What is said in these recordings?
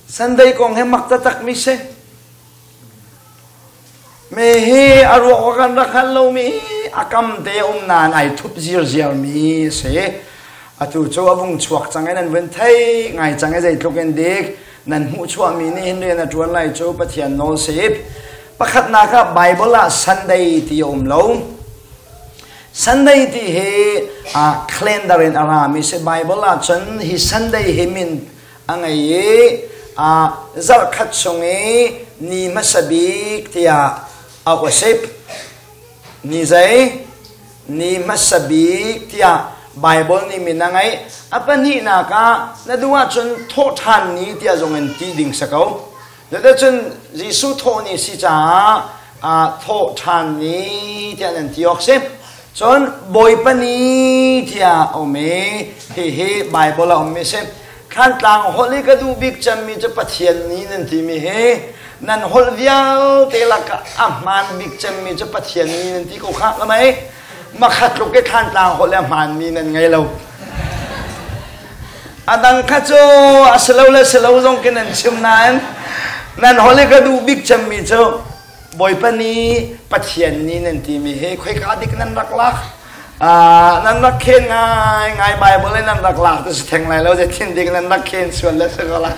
Sunday kong hi mak taktakmi si. Me hi a ruak wa kan rak hal lomi a kam te um nan ai thup zir ziarmi si. Atu cu a vung chuak cang e nan ven thei ngai cang e zeitluk in dik nan hmuh chuahmi nih hin rian a tuan lai cu Pathian nawl sip. Pakhatnak ah Bible ah Sunday ti a um lo. Sunday ti hi uh, calendar in a rami si Bible ah cun hi Sunday hi min a ngei i uh, zarhkhat chung i ni hmasa bik tiah a usip ni zei ni hmasa bik tiah Bible nih min a ngei a pahnihnak ah na duh ahcun thawhthan ni tiah zong in ti ding sa ko Cuticun Jesuh thawh ni si caah aa thawh ṭhan ni tiah nan ti awk si. Cun Bawipa ni tiah a um i hihi Baibal a ummi si. Thantlang holh i ka duh bik cemmi cu Pathian ni nan timi hi nan holh vialte lakah a hmaan bik cemmi cu Pathian ni nan ti ko kha ka mei. Makhat tluk i Thantlang holh le a hmaanmi nan ngei lo. Adang kha cu a si lo le si lo zong kin an chim nain nan holi ka duh bik cemmi cu Bawipa ni Pathian ni nan timi he khoika dik nan rak lak ah nan rak khen ngai ngai Bible in nan rak lak ti si theng lai lo je thin dik nan rak khen sual le si ko la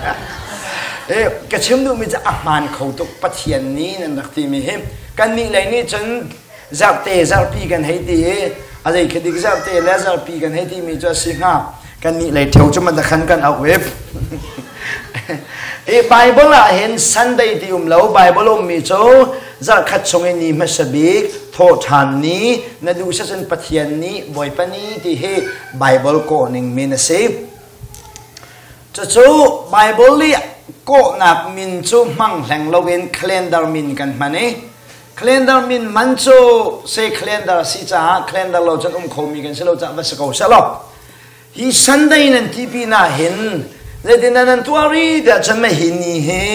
eh ka chim duhmi cu a hmaan kho tuk Pathian ni nan rak timi hi kan nih lei nih cun zarhte zarhpi kan hei ti i a zei khitik zarhte le zarhpi kan hei timi cu a si hnga kannih lei theo cu mata khan kan auh i i Bible ah hin Sunday ti um lo Bible ummi cu zarhkhat chung in ni hmasa bik thawhṭhan ni na duhsah cun Pathian nih Bawipa ni ti hi Bible kawhning min a si cucu Bible i kawhnak min cu hmang hleng loin calendar min kan hman i Calendar min man cu se calendar a si caah calendar lo cun um khomi kan si lo caah va si ko seh law hi Sunday nan ti pinah hin zeitin dah nan tuah rih tiah cun mei hi ni hi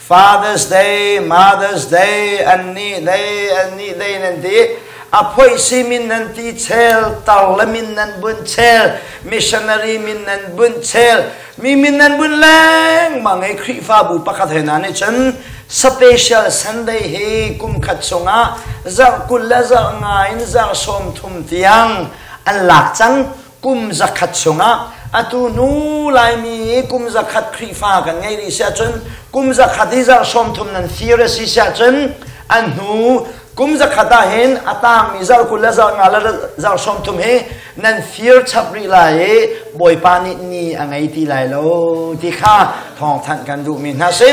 Father's Day, Mother's Day, annih day, annih day nan ti. A phoih si min nan ti chel, tar le min nan bunh chel, missionary min nan bunh chel, mi min nan bunh lengmang i Khrihfabu pakhat he hna nih cun special Sunday hi kum khat chungah zarh kul le zarh nga in zarh sawm thum tiang an lak cang kum zakhat chungah atu hnu laimi hi kum zakhat Khrihfa kan ngei rih si ahcun kum zakhat i zarh sawm thum nan thir a si si ahcun an hnu kum zakhat ah hin a tangmi zarh kul le zarh nga le zarh sawm thum hi nan fir chap rih lai i bawipa nih ni a ngei ti lai lo ti kha thawngthanh kan duhmi hna si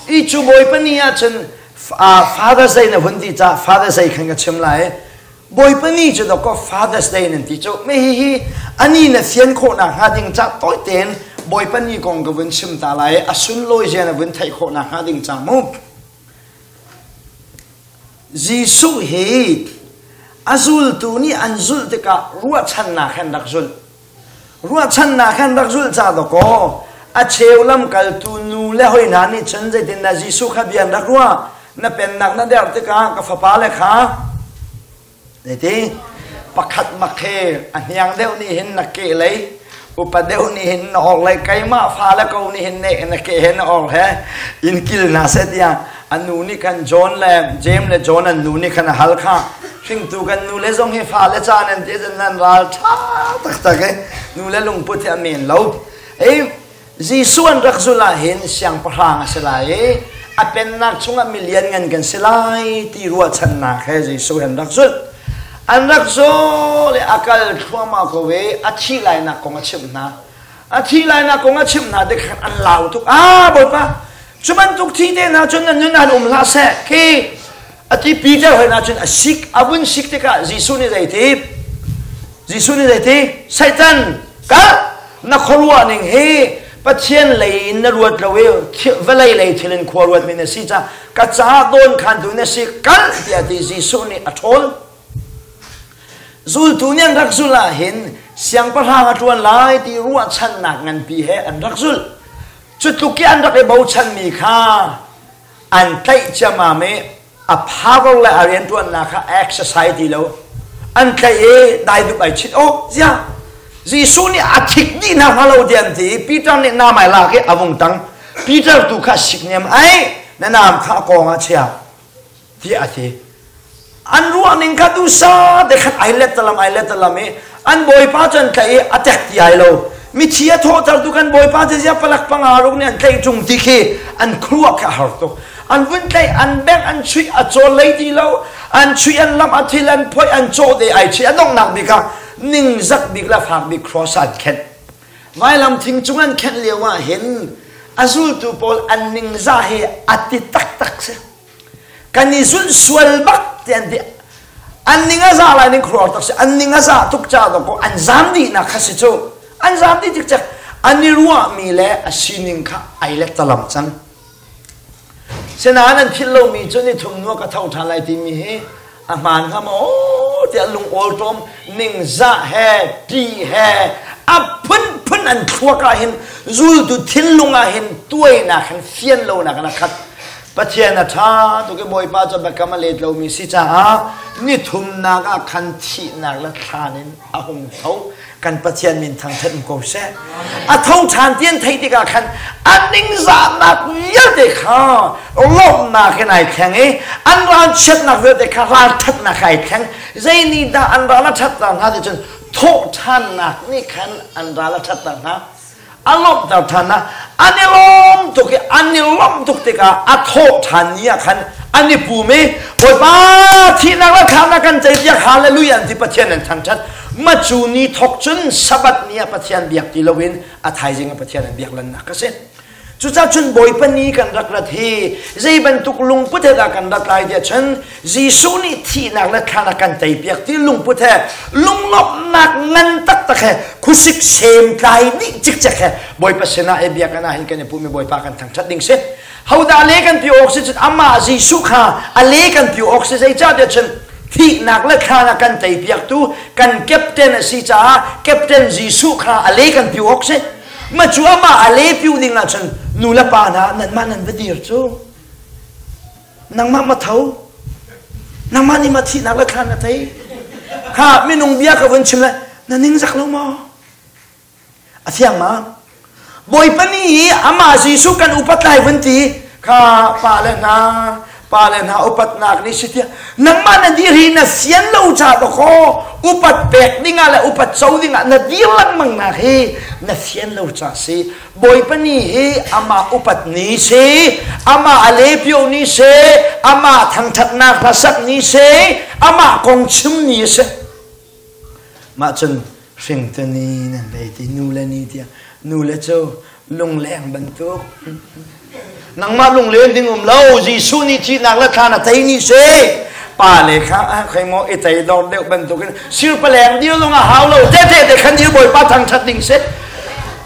i cu bawipa ni ah cun father day na hun ti cah father's day khan ka chim lai bawipa ni cu doko father's day nan ti cu me hi hi ani na fian khawh nak hnga ding ca toi ten bawipa ni kong ka vun chim ta lai a sunlawi je na vun theih khawh nak hnga ding ca mu Jesuh hi a zultu nih an zulh tikah ruahchannak he an rak zulh. Ruahchannak he an rak zulh ca dawkaw a cheu lamkaltu nu le hoi hna nih cun zeitindah Jesuh kha bia an rak ruah? Na pennak na der tikah ka fapa le kha Tete pakhat mak he a hniang deuh nih hin na ke lei upa deuh nih hin na hor lei keimah fa le ko nih hin na ke he na hor he in kil hna seh tiah a nu nih khan John le James le John an nu nih khan a hal kha hringtu kan nu le zong hi fa le caan an ti cun nan ral ṭha taktak e nu le lungput hi a men lo ei Jesuh an rak zulh ahhin siangpahrang a si lai i a pennak chungah milian ngan kan si lai ti ruahchannak he Jesuh an rak zulh. An rak zaw le a kal thluahmah ko i a thih lainak kong a chimh hna. A thih lainak kong a chimh hna tikhan an lau tuk. Ah, Bawipa, cu bantuk thite hna cun nan nun ah um hlah seh. Khi ati Peter hoin ahcun a sik a vun sik tikah Jesuh nih zei ti Jesuh nih zei ti Satan kal na khuaruah ning hi Pathian lei in na ruat lo i vawlei lei thil in khua ruat mi na si ca ka ca dawn khan tu na si kal tiah ti Jesuh nih a ṭhawl zultu nih an rak zul ahhin siangpahrang a ṭuan lai ti ruahchannak nganpi he an rak zul cutluk i an rak i bochan mi kha an tlaih ciammam i a power le a rianṭuannak kha exercise ti lo an tlaih i dai dup ai chit oh ziah Jesuh nih a thik dih hna hnga lo dian ti Peter nih nam ai lak i a vung tang Peter tu kha siknem ai na nam kha a kong ah chia tiah a ti an ruah ning kha tu sa te khat ai let talam ai let talam i an bawipa cu an tlaih i a tek ti ai lo mithi a thawhter tu kan bawipa te zia palak panga ruk nih an tlaih chung ti khi an khruak kha har tuk an vun tlaih an bek an chuih a chol lei ti lo an chuih an lam a thil an phoi an chaw te ai chi a donghnak bika ning zak bik la fak bik cross an khen mai lam thing chung an khen lio ah hin a zultu pawl an ningza hi a ti tak tak se kan i zulh sual bak ti an ti an ning a za lai ning khuar tak si an ning a za tuk ca ko an zam dih nak kha si cu an zam dih cikcek an i ruah mi le a sining kha ai let talam cang sinain an philh lo mi cu ni thum nuak a tho ṭhan lai ti mi hi a hmaan hnga maw tiah lungawl ṭawm ningzah he ṭi he a phunphun an thluak ah hin zultu thinlung ah hin tuainak han fian lonak an khat Pathian a ṭha tuk i Bawipa cu biakam a let lomi si caah nithumnak ah khan thihnak le thlan in a hung tho kan pathian min thangthat um ko seh a tho ṭhan ti an theih tikah khan a ningzahnak vialte kha lawmhnak in ai thleng i an ral chiatnak vialte kha ralṭhatnak ai thleng zei nih dah an ral a ṭhatter hna ti cun thawhṭhannak nih khan an ral a ṭhatter hna a lawmhter than ah an i lawm tuk i an i lawmh tuk tikah a thawh than ni ah khan an i pum i Bawipa thihnak le khamnak kan cei tiah hallelujah an ti Pathian an thangthat macu ni thok cun sabat ni ah Pathian biak ti loin a thaizing ah Pathian an biak lannak ka si cucacun bawipa ni kan rak rat hi zei bantuk lungput he dah kan rat lai tiah cun Jesuh nih thihnak le thlan a kan teipiak ti lungput he lunglawmhnak ngan taktak he khusik sem tlai dih cikcek he Bawipa sinah i biakinn ah hin kan i pumi Bawipa kan thangṭhat ding si hodah le kan pi awk si cun amah Jesuh kha a le kan pi awk si zeicahtiah cun thihnak le thlan a kan teipiaktu kan captain a si caah captain Jesuh kha a le kan pi awk si ma cu amah a le pi ding ahcun nu le pa hna nanmah nan va dir cu nangmah ma tho nangmah nih ma thihnak le thlan a thei kha minung bia ka vun chim le na ning zak lo maw a thiang ma bawipa ni hi amah jesuh kan upat lai vun ti kha pa le hna pa le hna upatnak ni si tia nangmah na diri na sian lo cha to kho upat pek dingah le upat co dingah na dir langmang nak hi na sian lo cha si Bawipa ni hi amah upat ni si, amah a lebio ni si, amah thangṭhatnak hlasak ni si, amah kong chim ni si. Mah cun hringtu ni nan lei ti, nu le ni tiah, nu le cu lungleng bantuk. nangmah lunglen ding um lo Jesuh nih thihnak la thlan a tei ni se pa le kha a khei mo i tei dor deuh bantukin sir paleng dir zong a hau lo te te te khan dir bawipa thangthat ding se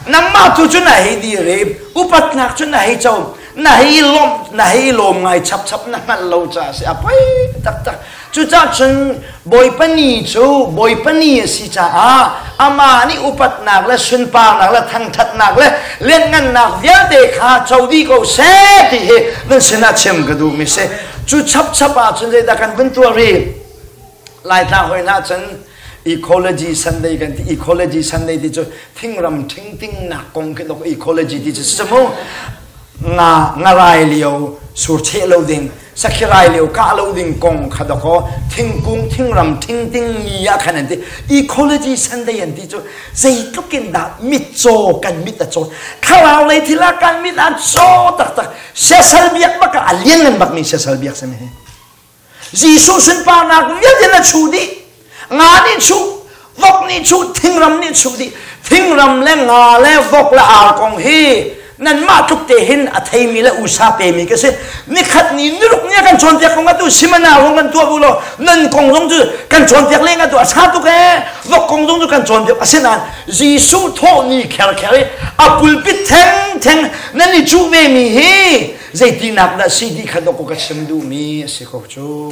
nangmah tu cu na hei direm upatnak cu na hei co na hei lawm na hei lawm ngai chap chap na hngal lo ca si a poi tak tak Cucah cun Bawipa ni cu Bawipa ni a si caah amah nih upatnak le sunparnak le thangṭhatnak le lianhngannak vialte kha co dih ko seh ti hi nan sinah chim ka duhmi si. Cu chapchap ah cun zeidah kan vun tuah rih? Laitlang hoi hlah cun ecology Sunday kan ti ecology Sunday ti cu thingram ṭhingtingnak kong khi dok ecology ti cu si mu nga ngarai lio sur cheh lo ding sakhirai leo kah lo ding kong kha dakaw thingkung thingram thing ding ya khan an ti ecology sunday an ti cu zeitluk in dah mitcaw kan mit a caw thlarau lei thila kan mit an caw taktak sesal biak baka a lian ngan bak mi sesal biak sami hi Jesuh sunparnak vialte na chu dih nga nih chuh vok nih chuh thingram nih chuh dih thingram le nga le vok le ar kong hi nanmah tluk te hin a theimi le usa pemi ka si nikhat ni niruk nia kan cawnpiak kong atu simana rung kan tuah bu lo nan kong zong cu kan cawnpiak le atu a sa tuk e vok kong zong cu kan cawnpiak asinain jesuh thawh ni kher kher i a pulpit theng theng nan i cuh ve mi hi zeitinak dah si ti kha dok ka chim duhmi a si ko cu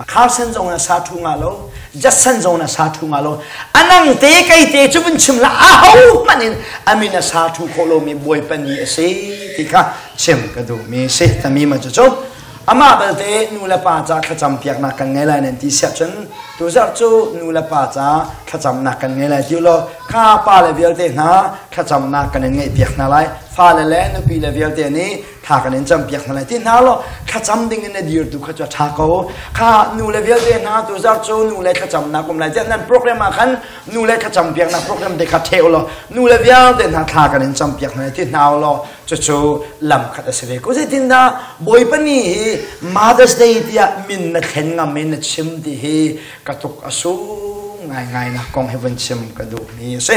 a khausen zong in a sa thu nga lo jatsan zong in a sa thu nga lo anang te kai te cu vun chim la a ho hman in amin a sa thu khawh lo mi buai pan ni a si ti kha chim ka duh mi si tami ma cu cu ama balte nu le pa ca thlacam piak nak kan ngai lai nan ti siap cun tu zarh cu nu le pa ca thlacam nak kan ngai lai tiu lo kha pa le vialte hna thlacam nak kan in ngaih piak hna lai fa le le nupi le vialte nih tha kan in cam piak hna lai ti hna lo thlacam ding in na dir tu kha cu tha ko kha nu le vialte hna tu zar cu nu le thlacam na kum lai tiah nan program ah khan nu le thlacam piak na program te kha theu lo nu le vialte hna thla kan in cam piak hna ti hna lo cucu lam khat a si ve ko zeitin da boipani hi mother's day tiah min na thlen ngam in na chim ti hi ka tuk a su ngai ngai na kong he van chim ka duh mi a si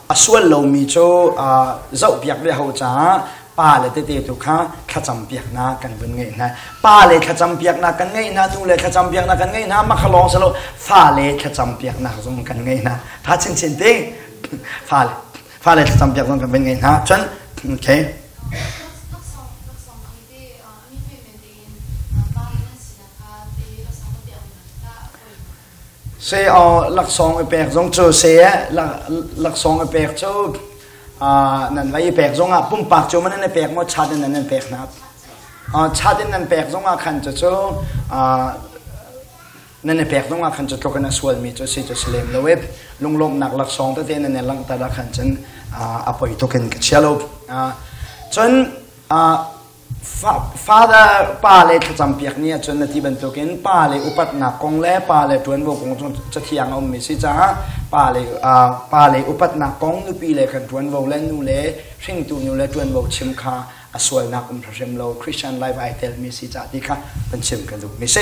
A sual lomi cu zohpiak ve hau caah pa le tete tu kha thlacam piaknak kan vun ngeih hna. Pa le thlacam piaknak kan ngeih hna, nu le thlacam piaknak kan ngeih hna, makhalong selo fale thlacam piaknak zong kan ngeih hna. Tha chinchin te fale fale thlacam piak zong kan vun ngeih hna. Cun okay. Seaw laksawng i pek zong cu see laksawng i pek cu nan va i pek zongah pumpak cu maw nan i pek maw chat in nan pek hna. Chat in nan pek zongah khan cucu nan i pek zongah khan cu tluk in a sualmi cu si cu si lem lo i lunglawmhnak laksawng tete nan i langhter ah khan cun a poi tuk in ka chia lo. Cun Father pa le thlacam piak ni ahcun na ti bantukin pa le upatnak kong le pa le ṭuanvo kong cu cathiang a ummi si caah pa le pa le upatnak kong nupi le kan ṭuanvo le nu le hringtu nu le ṭuanvo chim kha a sualnak um hrim lo Christian life ai telmi si caah ti kha kan chim ka duhmi si.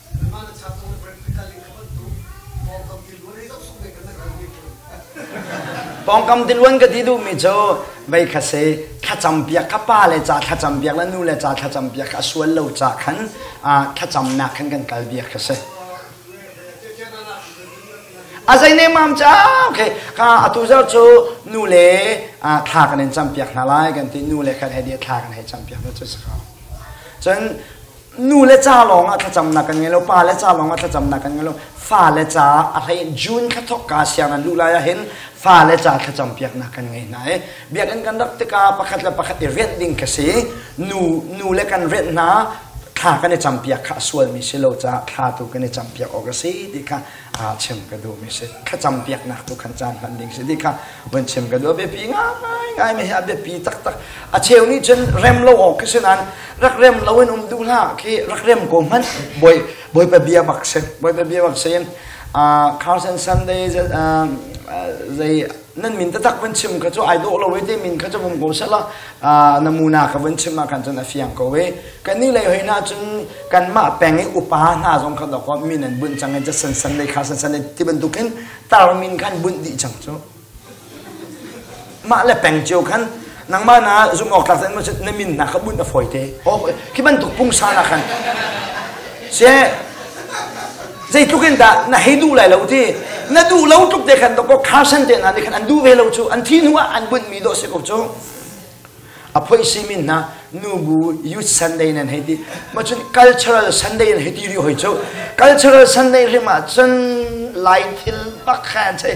Nangmah na chap ko na ka ling ka panh tuk. Pawngkam tiluan ei zoh sung deh ka na kalmi kun. Pawngkam tiluan ka ti duhmi cu vei kha se thlacam piak kha pa le ca thlacam piak le nu le ca thlacam piak kha a sual lo ca khan ah thlacamnak khan kan kal biak kha si. A zei ne mam ca okay ka atu zar cu nu le ah, thla kan in cam piak hna lai kan ti nu le khan hei dia thla kan hei cam piak hna cu si ko. Cun nu le ca lawng ah thlacamnak kan ngei lo pa le ca lawng ah thlacamnak kan ngei lo fa le ca a hlei june thla thok ka siang an luh lai ah hin fa le ca thlacam piaknak kan ngei hna i biakinn kan rak tikah pakhat le pakhat i rianh ding ka si nu nu le kan rianh hna thla kan i campiak kha a sualmi si lo caah thla tu kan i campiak awk a si ti kha ah chim ka duhmi si thlacam piaknak tu khan caan hman ding si ti kha van chim ka duh biapi ngai ngai mi hi a biapi taktak a cheu nih cun rem lo awk khi si nan rak rem lo in um duh hlah khi rak rem ko hmanh boi boi pa bia bak si boi pa bia bak si in uh, Carlson Sunday uh, uh, zei nan min tatak van chim kha cu ai dawh lo te min kha cu vung ko sala na muna ka van chim ah khan cun a fiang ko we kan ni lei hoi na cun kan ma peng i upa hna zong kha dok min an bunh chang ja san san lei kha san san ti bantuk in tar min khan bunh di chang cu mah le peng cio khan nangmah na zumh awk tlak na min na ka bunh a fawi te khi bantuk pungsa na khan se zeitluk in dah na hei duh lai lo ti na duh lo tluk te khan to ko khasan te na nih khan an duh ve lo cu an thi hnu ah an bunh mi do si ko cu a phoi si min na nubu youth sunday nan hei ti ma cun cultural sunday nan hei ti ri hoi cu cultural sunday rim ah cun lai thil pakhan chei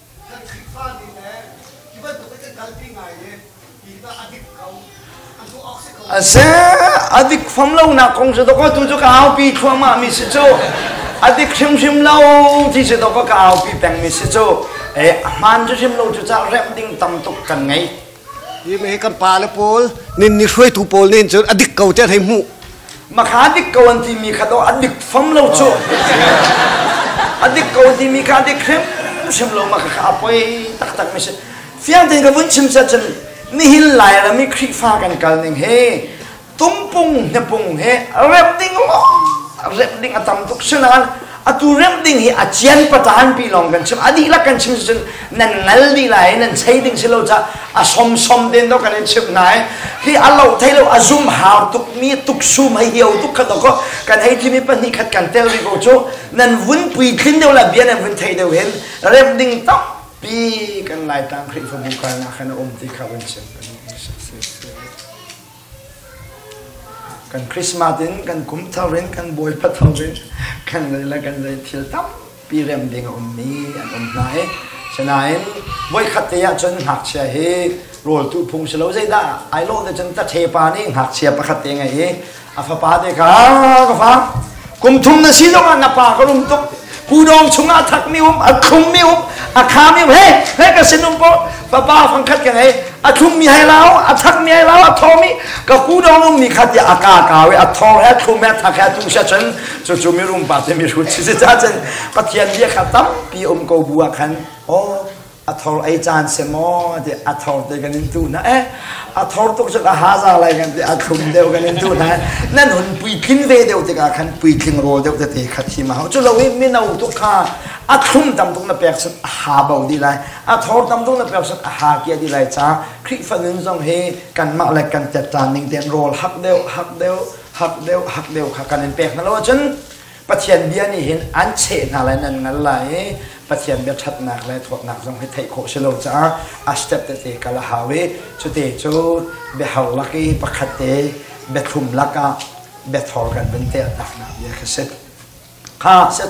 kan Khrihfa nih le hi bantuk in kalpi ngai i hi tah a dik ko a tuah awk si ko. A se a dik fam lonak kong si dawk tu cu ka aupi thluahmah mi si cu a dik hrimhrim lo ti si dawk ka aupi peng mi si cu e a hmaan cu hrim lo cu ca rem ding tam tuk kan ngei Hi me kan pa le pawl ninni hruaitu pawl nih cun a dik ko tiah hlei hmuh. Makha dik ko an timi kha do a dik fam lo cu. a dik ko an timi kha a dik hrim hrim lo makha kha a poi taktak mi si. Fiang tein ka vun chim set cun nihin Lairam i Khrihfa kan kal ning he tungpung hnepung he remh ding remh ding a tam tuk si nain atu remh ding hi a cian pataan pi lawng kan chim a dihlak kan chim cun nan ngal dih lai nan chei ding si lo ca a som som den do kan in chim hna i hi a lo thei lo a zum hau tuk mi tuk sum hei hiau tuk khat ko kan hei thimi pahnih khat kan tel ri ko cu nan vun pui tlin deuh la bia nan vun thei deuh hin remh ding tam pi kan lai tang khrihfabu kal na khan a um ti kha vun chim pahnih Kan Christmas in kan kum thar in kan bawipa thar in kan zei le kan zei thil tampi rem ding a um mi an um hna i sinain voikhat te ahcun ngakchia hi rawltu phung si lo zeidah ai lawh te cun taṭhepa nih ngakchia pakhat te a ngei i a fapa te kha ka fak kum thum na si zongah na pa ka rum tuk kudong chungah thak mi um a khung mi um a kha mi um he he ka sin um po papa fangkhat ka ngei a thlum mi hai lao a thak mi hai lao a tho mi ka kudong um ni khat ya a ka ka we a thor he thlum he thak he tung se chen chu chu mi rum pa te mi rut si si cha chen pathian bia kha tampi um ko bu a khan oh a thor ei caan si maw ti a thor te kan in tu hna eh a thor tuk cu ka haza lai kan ti a thum deuh kan in tu hna eh. nan hun pui tling ve deuh tikah khan pui tling rawl deuh te te kha thi ma hau cu lo i mino tu kha a thlum tam tuk na pek sun a ha bo di lai a thor tam tuk na pek sun a ha kia di lai cha khrifa nun zong hi kan mah le kan tet tan ning ten rawl hak deuh hak deuh hak deuh hak deuh kha kan in pek na lo cun Pathian bia nih hin an cheh hna lai nan ngal lai i Pathian bia ṭhatnak le thawtnak zong hi theih khawh si lo caah a step tete kal a hau i cute cu biahar lak i pakhat te biathlum lakah biathor kan vun tehtaknak bia khi si. Kha